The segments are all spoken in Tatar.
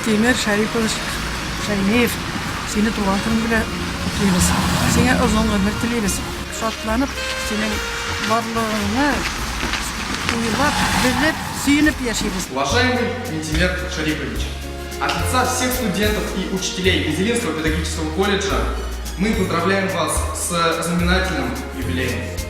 Тимер Шәрипович Шәймиев, сине туган көн белән котлыйбыз. Сиңа озын гомер телибез. Шатланып, синең барлыгыңны уйлап, белеп, сөенеп яшибез. Уважаемый Минтимер Шарипович, от лица всех студентов и учителей Изелинского педагогического колледжа мы поздравляем вас с знаменательным юбилеем.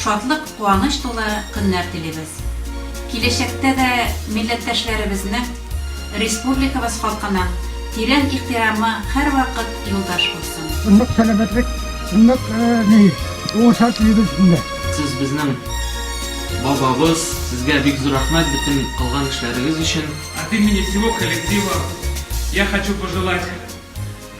Шатлык, куаныч тулы көннәр телибез. Киләчәктә дә милләттәшләребезнең, республикабыз халкының тирән ихтирамы һәрвакыт юлдаш булсын. Нык сәләмәтлек, нык ни, уңышлар телибез сезгә. Сез безнең бабабыз, сезгә бик зур рәхмәт бөтен кылган эшләрегез өчен. От имени всего коллектива я хочу пожелать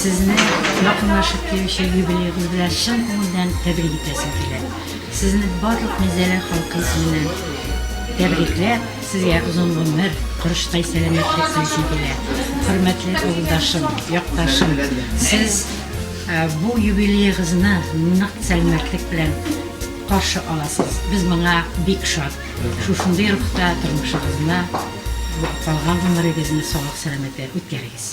Сезне якынлашып килүче юбилеегыз белән чын күңелдән тәбрик итәсем килә. Сезне барлык Мизәлә халкы исеменнән тәбрикләп, сезгә озын гомер, корыштай сәламәтлек телисем килә. Хөрмәтле авылдашым, якташым, сез э, бу юбилеегызны нык сәламәтлек белән каршы аласыз. Без моңа бик шат. Шушындый рухта тормышыгызны, калган гомерегезне саулык-сәламәтләр үткәрегез.